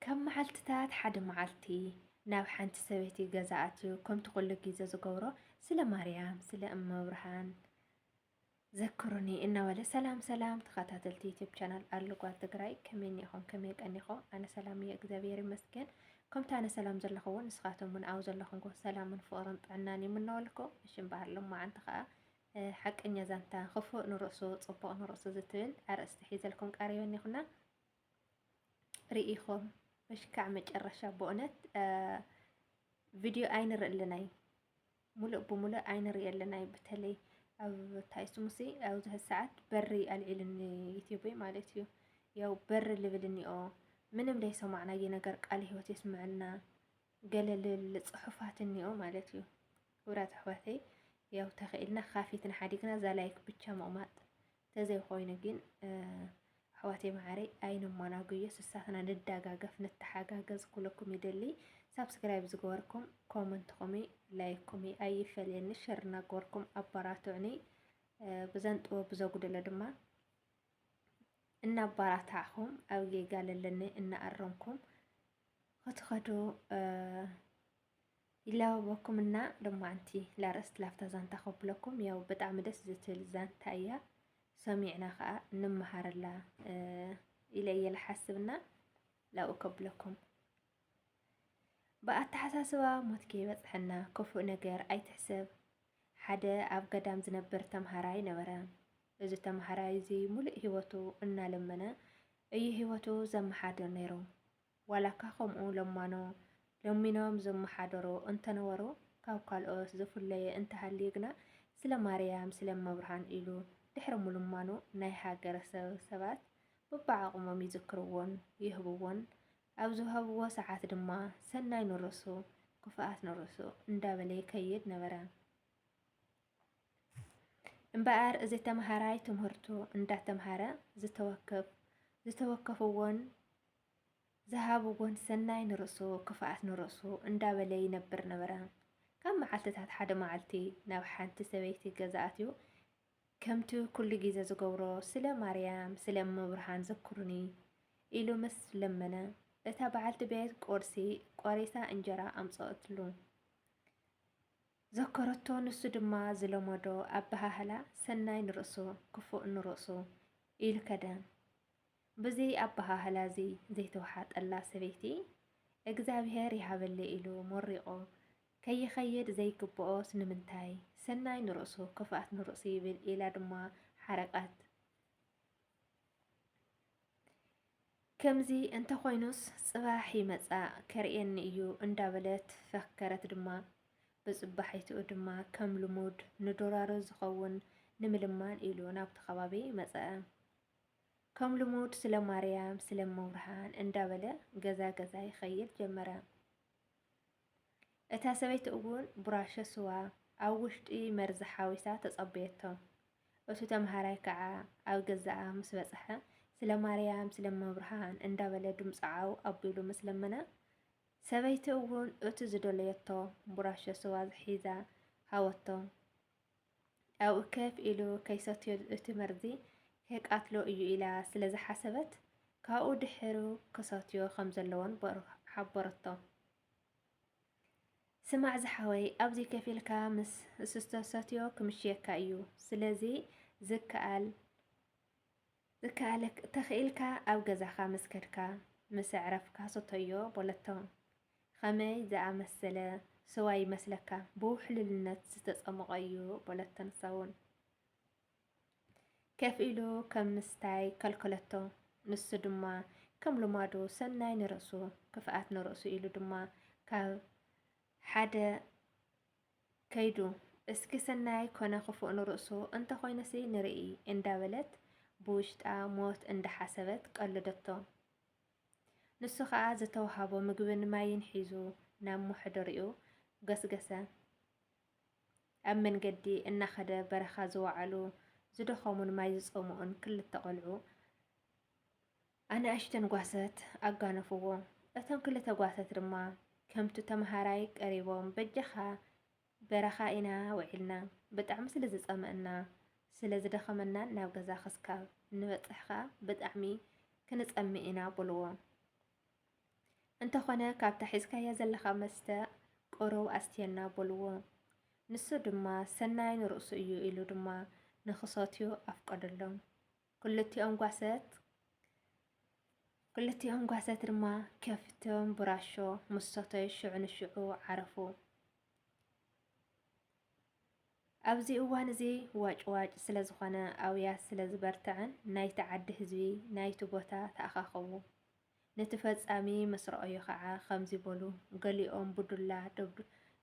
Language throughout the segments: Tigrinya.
ካብ መዓልትታት ሓደ መዓልቲ ናብ ሓንቲ ሰበይቲ ገዛ ኣትዩ ከምቲ ኩሉ ግዜ ዝገብሮ ስለ ማርያም ስለ እመብርሃን ዘክሩኒ እናበለ ሰላም ሰላም ተኸታተልቲ ዩቲብ ቻናል ኣሉጓል ትግራይ ከመይ እኒኹም ከመይ ቀኒኹም ኣነ ሰላም እየ እግዚኣብሔር ይመስገን ከምቲ ኣነ ሰላም ዘለኹ እውን ንስኻቶም እውን ኣብ ዘለኹምዎ ሰላምን ፍቕርን ጥዕናን ይምነወልኩ እሽም ባህር ሎማዓንቲ ከዓ ሓቀኛ ዛንታ ክፉእ ንርእሱ ፅቡቕ ንርእሱ ዝትብል ኣርእስቲ ሒዘልኩም ቀሪበ እኒኹና ርኢኹም በሽካዕ መጨረሻ ብእውነት ቪድዮ ኣይንርኢ ኣለናይ ሙሉእ ብሙሉእ ኣይንርኢ ኣለናይ በተለይ ኣብ ታይ ስሙሲ ኣብዚ ሰዓት በሪ ኣልዒልኒ ዩቲዩበይ ማለት እዩ ያው በሪ ልብል እኒኦ ምንም ዘይሰማዕናየ ነገር ቃል ህይወት የስምዐና ገለልል ፅሑፋት እኒኦ ማለት እዩ ክብራት ኣሕዋተይ ያው ተኽኢልና ካፊትና ሓዲግና እዛ ላይክ ብቻ ምቕማጥ ተዘይኾይኑ ግን ኣሕዋተይ መዓረይ ኣይንሞናጉዮ ስሳትና ንዳጋገፍ ንተሓጋገዝ ኩለኩም ይደሊ ሳብስክራይብ ዝገበርኩም ኮመንትኹም ላይክኩም ኣይፈለየኒ ሸር እናገበርኩም ኣበራትዑኒ ብዘን ጥበብ ብዘጉደለ ድማ እናባራታዕኹም ኣብ ጌጋ ለለኒ እናኣረምኩም ክትኸዱ ይላበበኩም እና ሎማዓንቲ ላርእስት ላፍታ ዛንታ ከብለኩም ያው ብጣዕሚ ደስ ዝትል ዛንታ እያ ሰሚዕና ከዓ ንመሃረላ ኢለ እየ ልሓስብና ላብኡ ከብለኩም ብኣተሓሳስባ ሞት ከይበፅሐና ክፉእ ነገር ኣይትሕሰብ። ሓደ ኣብ ገዳም ዝነብር ተምሃራይ ነበረ። እዚ ተምሃራይ እዚ ሙሉእ ህይወቱ እናለመነ እዩ ህይወቱ ዘመሓድር ነይሩ። ዋላካ ከምኡ ለማኖ ለሚኖም ዝመሓደሩ እንተነበሩ ካብ ካልኦት ዝፍለየ እንተሃልዩ ግና ስለ ማርያም ስለ እመብርሃን ኢሉ ድሕሪ ምልማኑ ናይ ሃገረሰብ ሰባት በብዓቕሞም ይዝክርዎን ይህብዎን ኣብ ዝሃብዎ ሰዓት ድማ ሰናይ ንርእሱ ክፍኣት ንርእሱ እንዳበለ ይከይድ ነበረ። እምበኣር እዚ ተምሃራይ ትምህርቱ እንዳተምሃረ ዝተወከፍ ዝተወከፍዎን ዝሃብዎን ሰናይ ንርእሱ ክፍኣት ንርእሱ እንዳበለ ይነብር ነበረ። ካብ መዓልትታት ሓደ መዓልቲ ናብ ሓንቲ ሰበይቲ ገዛ ኣትዩ ከምቲ ኩሉ ግዜ ዝገብሮ ስለ ማርያም ስለ ምብርሃን ዘክሩኒ ኢሉ ምስ ለመነ እታ በዓልቲ ቤት ቁርሲ ቆሪሳ እንጀራ ኣምፀኦትሉ። ዘከረቶ ንሱ ድማ ዝለመዶ ኣበሃህላ ሰናይ ንርእሱ ክፉእ ንርእሱ ኢሉ ከደ። ብዚ ኣበሃህላ እዚ ዘይተወሓጠላ ሰበይቲ፣ እግዚኣብሄር ይሃበለይ ኢሉ መሪቑ ከይኸይድ ዘይግብኦስ ንምንታይ? ሰናይ ንርእሱ ክፍኣት ንርእሱ ይብል ኢላ ድማ ሓረቀት። ከምዚ እንተኾይኑስ ጽባሕ ይመጻእ ከርእየኒ እዩ እንዳበለት ፈከረት ድማ ብጽባሒትኡ ድማ ከም ልሙድ ንዶራሮ ዝኸውን ንምልማን ኢሉ ናብቲ ከባቢ መጸ። ከም ልሙድ ስለ ማርያም ስለ መብርሃን እንዳበለ ገዛ ገዛ ይኸይድ ጀመረ። እታ ሰበይቲ እውን ቡራሸ ስዋ ኣብ ውሽጢ መርዚ ሓዊሳ ተጸበየቶ። እቱ ተምሃራይ ከዓ ኣብ ገዛኣ ምስ በፅሐ ስለ ማርያም ስለ መብርሃን እንዳበለ ድምፁ ዓው ኣቢሉ ምስ ለመነ ሰበይቲ እውን እቱ ዝደለየቶ ቡራሾ ስዋ ሒዛ ሃወቶ። ኣብኡ ከፍ ኢሉ ከይሰትዮ እቲ መርዚ ከየቃትሎ እዩ ኢላ ስለ ዝሓሰበት ካብኡ ድሕሩ ክሰትዮ ከም ዘለዎን ሓበረቶ። ስማዕ ዝሓወይ ኣብዚ ከፍ ኢልካ ምስ እስተሰትዮ ክምሽየካ እዩ ስለዚ ዝከኣል ዝከኣለክ ተኽኢልካ ኣብ ገዛኻ ምስ ከድካ ምስ ኣዕረፍካ ስተዮ በለቶ። ኸመይ ዝኣመሰለ ስዋ ይመስለካ? ብውሕሉልነት ዝተጸሞቐ እዩ በለቶ። ንሳውን ከፍ ኢሉ ከም ምስታይ ከልከለቶ። ንሱ ድማ ከም ልማዱ ሰናይ ንርእሱ ክፍኣት ንርእሱ ኢሉ ድማ ካብ ሓደ ከይዱ እስኪ ሰናይ ኮነ ክፉእ ንርእሱ እንተኾይኑሲ ንርኢ እንዳበለት ብውሽጣ ሞት እንዳሓሰበት ቀለደቶ። ንሱ ከኣ ዝተውሃቦ ምግብን ማይን ሒዙ ናብ መሕደሪኡ ገስገሰ። ኣብ መንገዲ እናኸደ በረኻ ዝወዓሉ ዝደኸሙን ማይ ዝጸምኡን ክልተ ቆልዑ ኣናእሽተን ጓሰት ኣጋነፍዎ። እቶም ክልተ ጓሰት ድማ ከምቱ ተመሃራይ ቀሪቦም በጃኻ በረኻ ኢና ውዒልና ብጣዕሚ ስለ ዝጸመእና ስለ ዝደኸመናን ናብ ገዛ ክስካብ ንበጽሕ ከኣ ብጣዕሚ ክንጸምእ ኢና በልዎ። እንተኾነ ካብታ ሒዝካያ ዘለኻ መስተ ቁሩብ ኣስትየና በልዎ። ንሱ ድማ ሰናይ ንርእሱ እዩ ኢሉ ድማ ንክሰትዩ ኣፍቀደሎም። ክልቲኦም ጓሰት ክልቲኦም ጓሰት ድማ ከፍቶም ብራሾ ምስ ሰተዩ ሽዑ ንሽዑ ዓረፉ። ኣብዚ እዋን እዚ ዋጭዋጭ ስለ ዝኾነ ኣውያት ስለ ዝበርትዐን ናይቲ ዓዲ ህዝቢ ናይቲ ቦታ ተኣኻኸቡ። ነቲ ፈጻሚ ምስ ረኣዩ ከዓ ከምዚ በሉ፣ ገሊኦም ብዱላ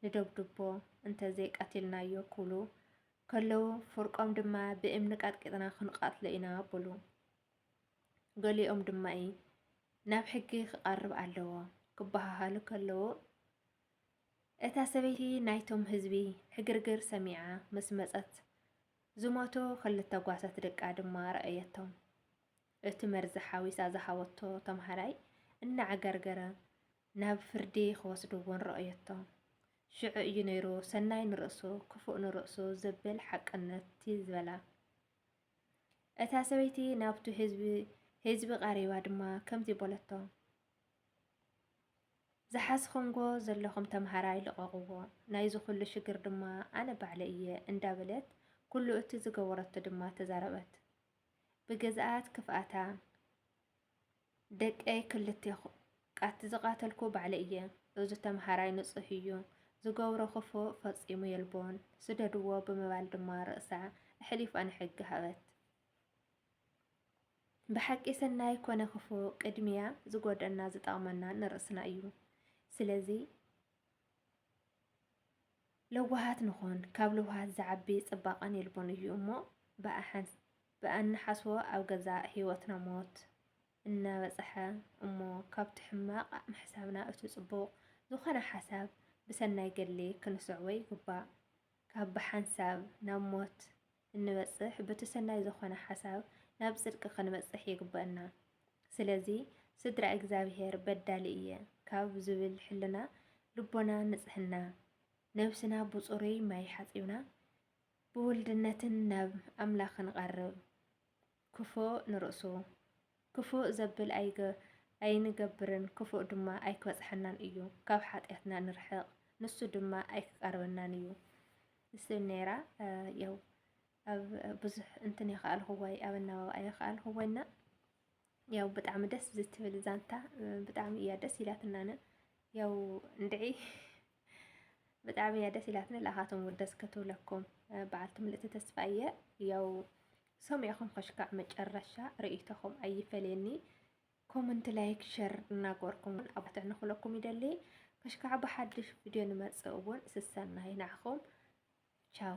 ንደብድቦ እንተዘይቀቲልናዮ ክብሉ ከለዉ ፍርቆም ድማ ብእምኒ ቀጥቂጥና ክንቐትሎ ኢና በሉ። ገሊኦም ድማ ናብ ሕጊ ክቐርብ ኣለዎ ክበሃሃሉ ከለዉ እታ ሰበይቲ ናይቶም ህዝቢ ዕግርግር ሰሚዓ ምስ መፀት ዝሞቱ ክልተ ጓሳት ደቃ ድማ ረኣየቶም። እቲ መርዚ ሓዊሳ ዝሃበቶ ተምሃራይ እናዓገርገረ ናብ ፍርዲ ክወስድዎን ረኦየቶም። ሽዑ እዩ ነይሩ ሰናይ ንርእሱ ክፉእ ንርእሱ ዘብል ሓቅነትቲ ዝበላ። እታ ሰበይቲ ናብቱ ህዝቢ ህዝቢ ቐሪባ ድማ ከምዚ በለቶም። ዝሓዝኹምዎ ዘለኹም ተምሃራይ ልቐቕዎ፣ ናይዚ ኩሉ ሽግር ድማ ኣነ ባዕለ እየ እንዳበለት ኩሉ እቲ ዝገበረቶ ድማ ተዛረበት። ብገዛኣት ክፍኣታ ደቀይ ክልቴኹ ቃት ዝቓተልኩ ባዕለይ እየ። እዚ ተምሃራይ ንጹህ እዩ፣ ዝገብሮ ክፉእ ፈጺሙ የልቦን፣ ስደድዎ ብምባል ድማ ርእሳ ኣሕሊፋ ንሕጊ ሃበት። ብሓቂ ሰናይ ኮነ ክፉእ ቅድሚያ ዝጎድኣና ዝጠቕመና ንርእስና እዩ። ስለዚ ለዋሃት ንኾን፣ ካብ ለዋሃት ዝዓቢ ጽባቐን የልቦን እዩ እሞ ብኣ ብኣንሓስቦ ኣብ ገዛእ ሕይወትና ሞት እናበጸሐ እሞ ካብቲ ሕማቕ ኣእምሕሳብና እቲ ጽቡቕ ዝኾነ ሓሳብ ብሰናይ ገድሊ ክንስዕቦ ይግባእ። ካብ ብሓንሳብ ናብ ሞት እንበጽሕ ብቲ ሰናይ ዝኾነ ሓሳብ ናብ ጽድቂ ክንበጽሕ ይግበእና። ስለዚ ስድራ እግዚኣብሔር በዳሊ እየ ካብ ዝብል ሕልና ልቦና ንጽሕና ነብስና ብጽሩይ ማይ ሓጺብና ብውልድነትን ናብ ኣምላኽ ንቐርብ። ክፉእ ንርእሱ ክፉእ ዘብል ኣይገ ኣይንገብርን ክፉእ ድማ ኣይክበጽሐናን እዩ። ካብ ሓጢኣትና ንርሕቕ ንሱ ድማ ኣይክቀርበናን እዩ። ንስብ ነይራ ያው ኣብ ብዙሕ እንትን የኸኣልኹዋይ ኣብ ኣናባባ የኸኣልኹዋይና ያው ብጣዕሚ ደስ ዝትብል ዛንታ ብጣዕሚ እያ ደስ ኢላትናነ ያው እንድዒ ብጣዕሚ እያ ደስ ኢላትኒ ለኣኻቶም ወደስ ከትብለኩም በዓልቲ ምልእቲ ተስፋ እየ ያው ሰሚዕኹም ከሽካዕ መጨረሻ ርእይቶኹም ኣይፈለየኒ ኮመንት ላይክ ሸር እናገበርኩም እውን ኣባትዕ ንኽለኩም ይደሊ ከሽካዕ ብሓድሽ ቪድዮ ንመፅእ እውን ስሰናይ ናዕኹም ቻው